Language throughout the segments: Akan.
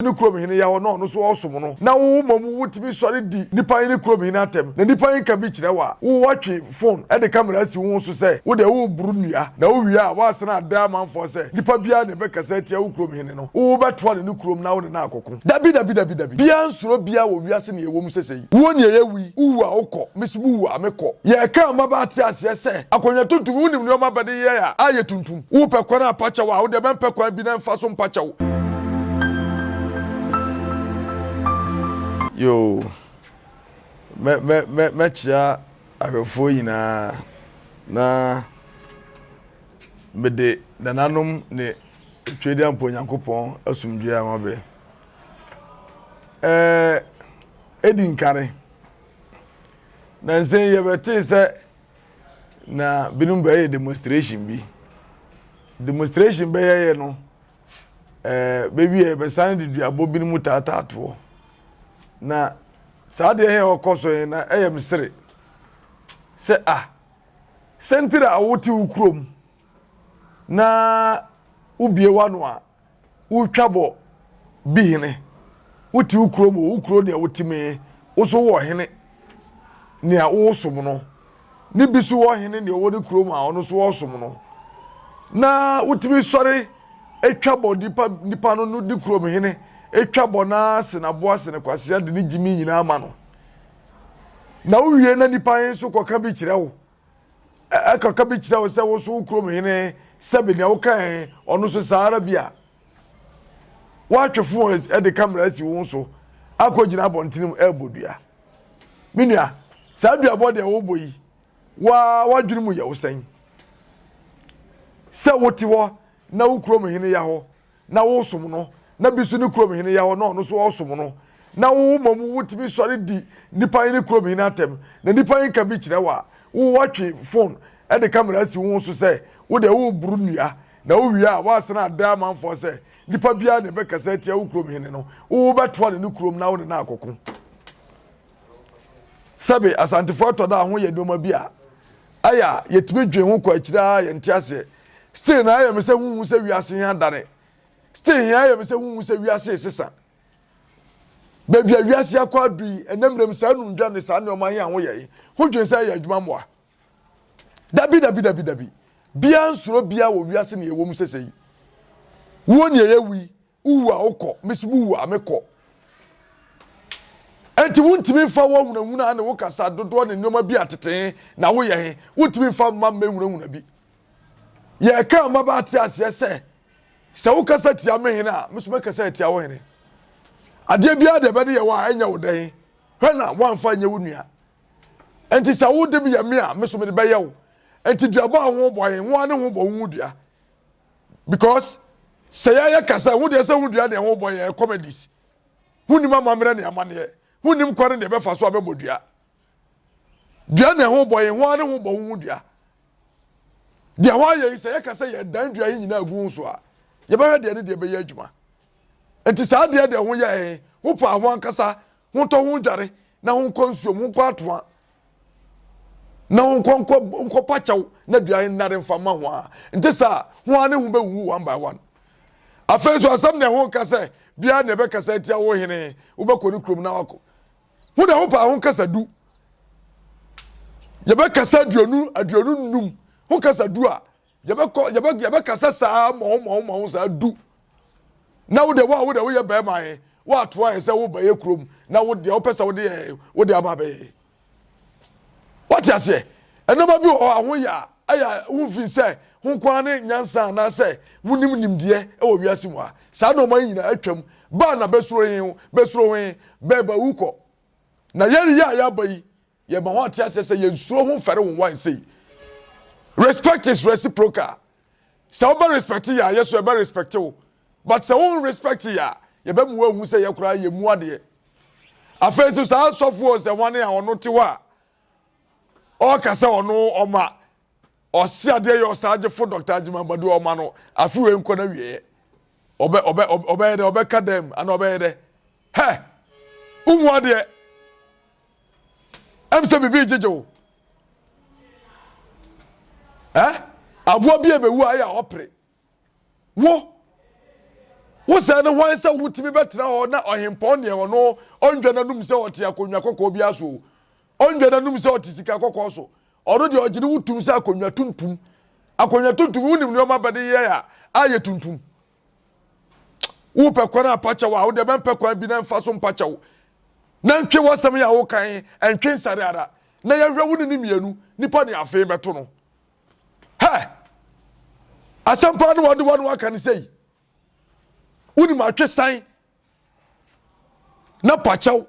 ne kurom hene yɛ hɔ na ɔno nso ɔresom no, na wo mmom wotumi sɔre di nipa he ne kurom hene atɛm, na nipa he ka bi kyerɛ wo a, wo woatwe fon de kamera asi wo ho so sɛ wodɛ woreboro nnua, na wowie a woasan ada amanfoɔ sɛ nipa biaa na ɛbɛkasa atia wo kurom hene no, wo wobɛtoa no ne kurom na wo ne no akɔko. Dabi, dabi, dabi, dabi, biaa nsuro biaa wɔ wiase nea ɛwɔ mu sɛsɛi, wuo nea ɛyɛ wu yi, wowu a wokɔ, mese wuwu a mekɔ. Yɛkaa mmabaa te aseɛ sɛ akonnwa tuntum, wonim nnoɔma bɛde yɛ a ayɛ tuntum? Wopɛ kwan a pakyɛw a, wo deɛ mɛmpɛ kwan bi na mfa so mpakyɛw. Yoo, mɛ mɛ mɛ mɛkyea ahwɛfoɔ nyinaa na mede nananom ne Twedeampo Nyankopɔn asomdwoeɛ ama bɛ. Ɛɛ, edi nkane, nansa yi yɛbɛtee sɛ na binom bɛyɛ demonstration bi. Demonstration bɛyɛeɛ no, ɛɛ bɛwieɛ bɛsan de duabɔ binom taataa toɔ. Na saa deɛ yɛ ɔkɔ so yɛn na ɛyɛ me sere sɛ a ah, sɛntiri a wote wo kurom na wobie w'ano a Wotwa bɔ bi hene. Wote wo kurom o, wo kuro nea wote mu yi, wo so wowɔ hene nea wosom no. Ne bi so wɔ hene nea ɔwɔ ne kurom a ɔno so ɔsom no. Na wotumi sɔre twa bɔ nipa nipa no ne kurom hene twa bɔ na se n'aboa se ne kwasea de ne gyimi nyinaa ma no. Na wowie na nipa he nso kɔka bi kyerɛ wo. Ɛka ka bi kyerɛ wo sɛ wo nso wo kurom hene sɛbe nea wokae ɔno nso saa ara bi a woatwe fo de kamera asi wo so akɔgyina abɔntenem ɛrebɔ dua. Me nua, saa duabɔ deɛ wobɔ yi, waa w'adwene mu yɛ wo sɛn? Sɛ wote hɔ na wo kurom hene ya hɔ na wosom no, na bi nso ne kurom hene yɛ hɔ na ɔno nso ɔsom no, na wo mmom wotumi sɔre di nnipa yi ne kurom hene atɛm, na nnipa yi nka bi kyerɛ wo a, wo woatwe fon de kamera asi wo ho so sɛ wo deɛ woreboro nnua, na wowie a woasan ada amanfoɔ sɛ nnipa biara na ɛbɛkasa atia wo kurom hene no, wo wobɛtoa no ne kurom na wo ne no akɔko. Sɛbe, Asantefoɔ tɔ da ho yɛ nneɛma bi a. Ayɛ a yɛtumi dwen ho kɔ akyiri ara a yɛn nte aseɛ. Still na ayɛ me sɛ ho nhu sɛ wiase he adane. Still he ayɛ me sɛ ho nhu sɛ wiase resesa. Baabi a wiase akɔ adu yi, ɛnɛ mmerɛ mu saa numdwa ne saa nnoɔma he a ho yɛ he, ho dwen sɛ ɛyɛ adwuma mmoa? Dabi dabi dabi dabi. Biaa nsuro biaa wɔ wiase nea ɛwɔ mu sesei. Wuo nea ɛyɛ wu yi, Wowu a wokɔ, me nso mewu a mekɔ. Enti wontumi mfa wo ahunahuna ne wo kasa dodoɔ ne nneɛma bi a tete na woyɛ he, wontumi mfa mma mmɛhunahuna bi. Yɛreka ama bɛate aseɛ sɛ, sɛ wokasa tia me hene a, me nso mɛkasa atia wo hene. Adeɛ biara deɛ ɛbɛde yɛ wo a, ɛnyɛ wo dɛ he, hwɛ na woamfa nyɛ wo nua. Enti sɛ wode yɛ me a, me nso mede bɛyɛ wo. Enti duabɔ a ho bɔ he, ho ara ne ho bɔ wo ho dua. because sɛ yɛayɛ kasa ho deɛ sɛ ho dua deɛ ho bɔ yɛ comedies ho nim amammerɛ ne amaneɛ ho nim kwan deɛ bɛfa so abɛbɔ dua dua na ho bɔ yɛ ho ara ho bɔ ho ho dua deɛ ho ayɛ yi sɛ yɛka sɛ yɛ dan dua yi nyinaa gu ho so a yɛbɛhwɛ deɛ ne deɛ bɛyɛ adwuma nti saa deɛ deɛ ho yɛ ho paa ho ankasa Hontɔ ho dware na honkɔ nsuom, honkɔ atoa na honkɔ nkɔ nkɔ pakyɛw na dua nnare mfa mma ho a nte saa ho a ne ho bɛwuwu one by one afei nso asɛm na ɛho nka sɛ biara na ɛbɛkasa atia wo hene wobɛkɔ ne kurom na wakɔ ho na ho paa ho kasa du yɛbɛkasa aduonu aduonu num ho kasa du a yɛbɛkɔ yɛbɛ yɛbɛkasa saa mɔho mɔho mɔho saa du na wo deɛ wo a wo deɛ woyɛ bɛrima yɛ woatoa yɛ sɛ woba yɛ kurom na wo deɛ wopɛ sɛ wode yɛ wode aba abɛyɛ wate aseɛ ɛnneɛma bi wɔ hɔ a ho yɛ a ɛyɛ a wofin sɛ ho nkoa ne nyansa anaasɛ wonim nimdeɛ wɔ wiase mu a saa nneɛma yi nyinaa atwam baa na bɛsuro he bɛsuro he bɛɛba wu kɔ na yɛreyɛ a yɛaba yi yɛma wɔn ate aseɛ sɛ yɛn suro ho mfɛre wɔn wan sei respect is reciprocal sɛ wobɛ respect yɛ a yɛ so ɛbɛ respect wo but sɛ wo respect yɛ a yɛbɛ mu ahu sɛ yɛ koraa yɛ mu adeɛ afei nso saa sɔfoɔ sɛ wɔn a ɔno te hɔ a ɔka sɛ ɔno ɔma ɔse adeɛ yɛ ɔsagyefo dɔkta agyima amadu a ɔma no afe wei nkɔ no wieɛ ɔbɛ ɔbɛ ɔbɛyɛ dɛ ɔbɛka dɛm ana ɔbɛyɛ dɛ hɛ wohu adeɛ ɛm sɛ biribi gyegye wo ɛ aboa bi a ɛbɛwu a ɛyɛ a ɔpere wo wo sɛ ne hwan sɛ wotumi bɛtena hɔ na ɔhempɔn deɛ ɔno ɔndwa n'anum sɛ ɔte akonnwa kɔkɔɔ bi aso o ɔndwa n'anum sɛ ɔte sika kɔkɔɔ so ɔno deɛ ɔgye ne wo tum sɛ akonnwa tuntum akonnwa tuntum wonim nneɛma bɛde yɛ a ayɛ tuntum wopɛ kwan a pakyɛw a wode bɛmpɛ kwan bi na mfa so mpakyɛw na ntwe w'asɛm yɛ a wokan ntwe nsare ara na yɛhwɛ wo ne ne mmienu nipa ne afei bɛto no Hɛ! Asɛm paa no wɔde wɔn aka no sɛi. Wonim atwesan na pakyɛw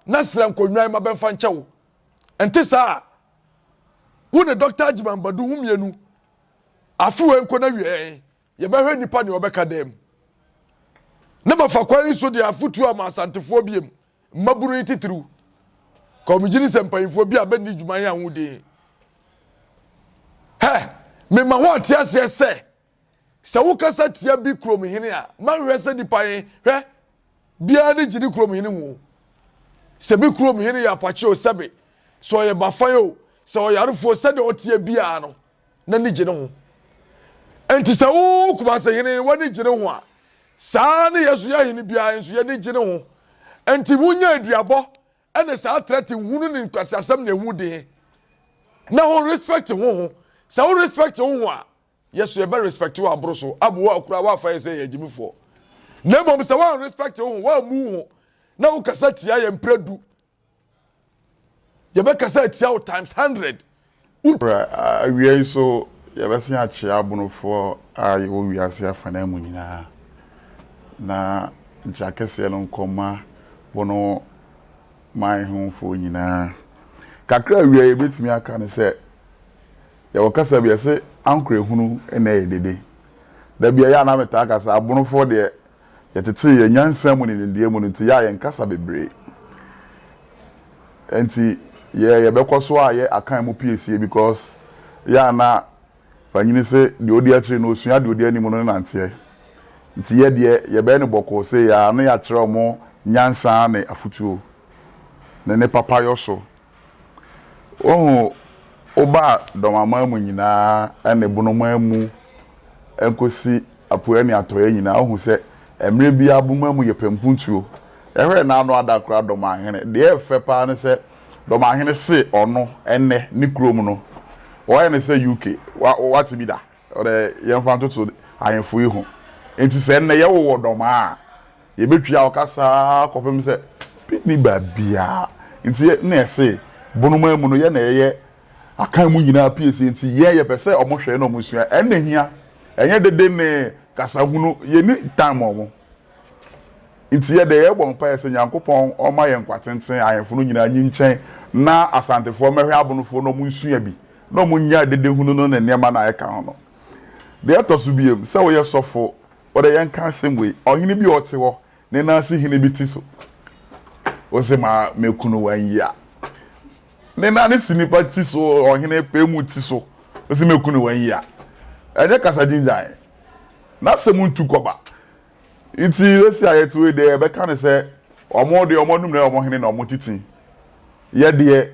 na srɛ nkonnwan ma bɛmfa nkyɛ wo. Ɛnte saa a, wo ne Dɔkta Agyeman Badu ho mmienu afewei nkɔ na wiɛɛ. Yɛbɛhwɛ nnipa nea ɔbɛka dan mu. Ne mafa kwan yi so de afotuo ama asantefoɔ biem, mmabunu yi titiriw. Kɔmigye ne sɛ mpanyinfoɔ bi a bɛnni dwuma yi ahoɔden. Hɛ, mema ho ate aseɛ sɛ, sɛ wokasa tia bi kurom hene a, manhwɛ sɛ nipa yi, hwɛ, biara ne gye ne kurom hene ho. Sɛ bi kurom hene yɛ apakye o, sɛbe, sɛ ɔyɛ bafan o, sɛ ɔyarefoɔ, sɛdeɛ ɔteɛ biara no, n'ani gye ne ho. Enti sɛ wo Kumase hene w'ani gye ne ho a, saa ne yɛn so yɛn hene biara nso yɛni gye ne ho. Enti munya aduabɔ ne saa trɛte hunu ne nkwaseasɛm na ɛho den na ho respect ho ho. Sɛ wo respect ho ho a, yɛ so yɛbɛ respect wo aboro so abo wo akora woafa yɛ sɛ yɛ agyimifoɔ. Na mmom sɛ woan respect ho ho, woammu ho na wokasa tia yɛ mprɛ du Yɛbɛkasa atia wo times hundred. Bra, awia yi so yɛbɛsen akyea abonofoɔ a yɛwɔ wiase afanaa mu nyinaa na gya kɛseɛ no nkɔma wɔn man hofoɔ nyinaa. Kakra awia yi yɛbɛtumi aka ne sɛ yɛwɔ kasa bi ɛse ankorɛ hunu na ɛyɛ dede. Da bi a yɛ a na metaa ka sɛ abonofoɔ deɛ Yɛtetee yɛn nyansa mu ne nimdeɛ mu no nti, yɛ a yɛn kasa bebree. Ɛnti yɛ yɛbɛkɔ so ayɛ akan mu piesie because yɛ a na wanyini se deɛ odi akyiri no osua deɛ odi anim no ne nanteɛ. Nti yɛ deɛ yɛbɛyɛ no bɔkɔɔ sei aa ne yɛakyerɛ wɔn nyansa ne afutuo ne ne papayɔ so Woahu, wobaa dɔm aman mu nyinaa ne bonoman mu kosi apueɛ ne atɔeɛ nyinaa, wohu sɛ mmerɛ biara boma mu yɛ pɛmpuntuo. Yɛhwɛɛ n'ano ada koraa dɔm ahene. Deɛ ɛyɛ fɛ paa ne sɛ dɔm ahene see ɔno ɛnnɛ ne kurom no wɔyɛ no sɛ UK. Wa, wate bi da? Ɔdɛ yɛmfa ntoto ahemfo yi ho. Enti sɛ nnɛ yɛwo wɔ dɔmaa a, yɛbɛtwia ɔkasa ara kɔpem sɛ bi nni baabiara. Enti na yɛse bonomaa mu no yɛ na yɛyɛ akan mu nyinaa piesie nti yɛn yɛpɛ sɛ ɔmo hwɛ na ɔmo sua. Ɛnna hia. Ɛnyɛ dede ne kasahunu. Yɛnni time ɔmo. Nti yɛdɛ yɛbɔ mpaɛ sɛ Nyankopɔn ɔma yɛ nkwa tenten, ahemfo no nyinaa nyinkyɛn na Asantefoɔ mmɛhwɛ Abonofoɔ na ɔmo nsua bi na ɔmo nya dedehunu no ne nneɛma no a ɛka ho no. Deɛ ɛtɔso biom, sɛ woyɛ sɔfo, wodɛ yɛnka asɛm wei, ɔhene bi a ɔte hɔ, ne nan si hene bi ti so, wose ma mɛkunu wo anyi a, ne nane si nipa ti so ɔhene pɛ mu ti so ɔsi meku ne wɔn yia ɛnyɛ kasa gyingyan na sɛ mu ntu kɔba nti esi a yɛte wei deɛ yɛbɛka ne sɛ ɔmo deɛ ɔmo anum na ɔmo hene na ɔmo titi yɛ deɛ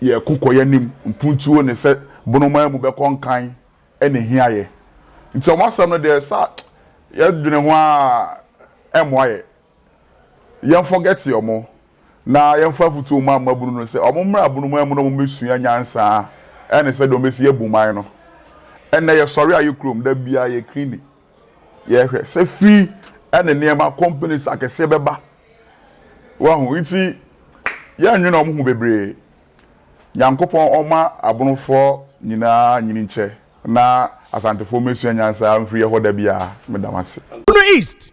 yɛ ko kɔ yɛ nim mpuntuo ne sɛ bonomaa mu bɛkɔ nkan ɛna ehia yɛ nti ɔmo asɛm no deɛ sa yɛ dwene ho a ɛmoa yɛ Yɛn forget wɔn na yɛn fa afutuo ma mmabunu no sɛ wɔn mmra abunu man mu na wɔn bɛ sua nyansa ɛne sɛdeɛ wɔn bɛ si abu man no. Ɛnnɛ yɛ sɔre a yɛ kurom da biara yɛ cleaning yɛ hwɛ sɛ fii ɛne nneɛma companies akɛseɛ bɛ ba wahu nti yɛ nwene wɔn ho bebree Nyankopɔn ɔma abunufɔɔ nyinaa nyinikyɛ na asantefoɔ mmɛ sua nyansa mfiri yɛ hɔ da biara meda mo ase. Bono East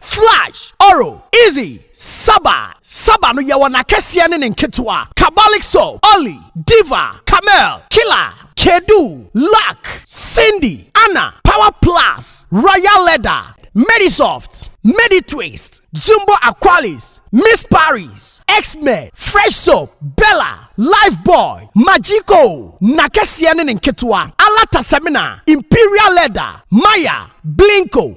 Flash, Oro, Izzy, Saba, Saba no yɛwɔ n'akɛseɛ ne ne nketewa, Kabalik Soap, Olly, Diva, Camel, Killer, Kedu, Luck, Cindy, Anna, Power Plus, Royal Leather, Medisoft, Meditwist, Jumbo Aqualis, Miss Paris, X-Men, Fresh Soap, Bella, Lifebuoy, Magico, n'akɛseɛ ne ne nketewa, Alata Semina, Imperial Leather, Maya, Blinko,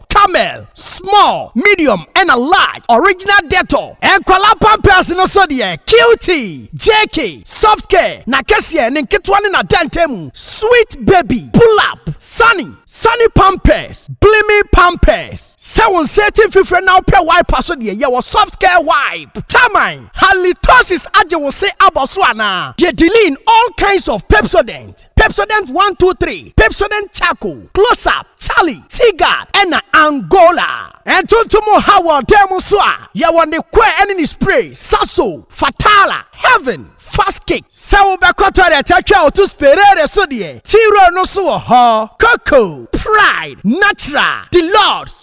Camel, small, medium ɛna large, original Dettol. Nkwadaa pampers no so deɛ, Cutie, JK, Soft Care, n'akɛseɛ, ne nketewa ne n'adantamu, Sweet Baby, Pull Up, Sunny, Sunny Pampers, Blimi Pampers. Sɛ wo nsa ati mfifire na wopɛ wipe a so deɛ, yɛwɔ Soft Care Wipe. Taman, Halitosis agye wo se abɔ so anaa? Deɛ Deline, all kinds of Pepsodent. Pepsodent, Pepsodent one two three, Pepsodent Charcoal, Close-Up, Charlie, Teaguard, ɛna Angola. Ntontom nhaw wɔ ɔdan mu nso a, yɛwɔ ne kɔɛ ɛne ne spray, Saso, Fatala, Heaven, Fast Kick. Sɛ wobɛkɔ toilet atwa wo to Sperare so deɛ, T-Roll no nso wɔ hɔ, Coco, Pride, Natural, Deluxe,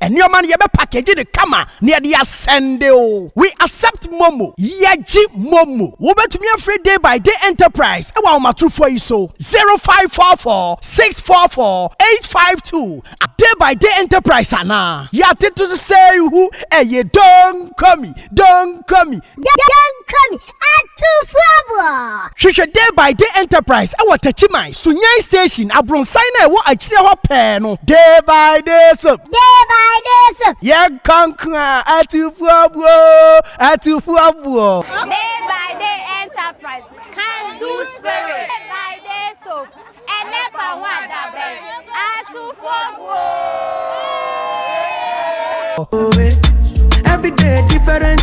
Nneɛma no yɛbɛ package no kama na yɛde asɛnde o. We accept momo. Yɛgye momo. Wobɛtumi afrɛ Day by Day Enterprise ɛwɔ ahomatorofoɔ yi so, 0544 644 852 a Day by Day Enterprise anaa. Yɛatete so sɛ ihu ɛye Donkomi, Donkomi. Donkomi, Atufoɔ! Hwehwɛ Day by Day Enterprise wɔ Takyiman, Sunyani Station, abronsan no a ɛwɔ akyire hɔ pɛɛ no. Day by Day Soap. Day by Day Soap. Yɛnkɔ nko a, Atufoɔbuo! Atufoɔbuo! Day by Day Enterprise, Can Do Spirit. Day by Day Soap, Ɛnɛ fa ho adabɛn, Atufoɔbuo! Every day different.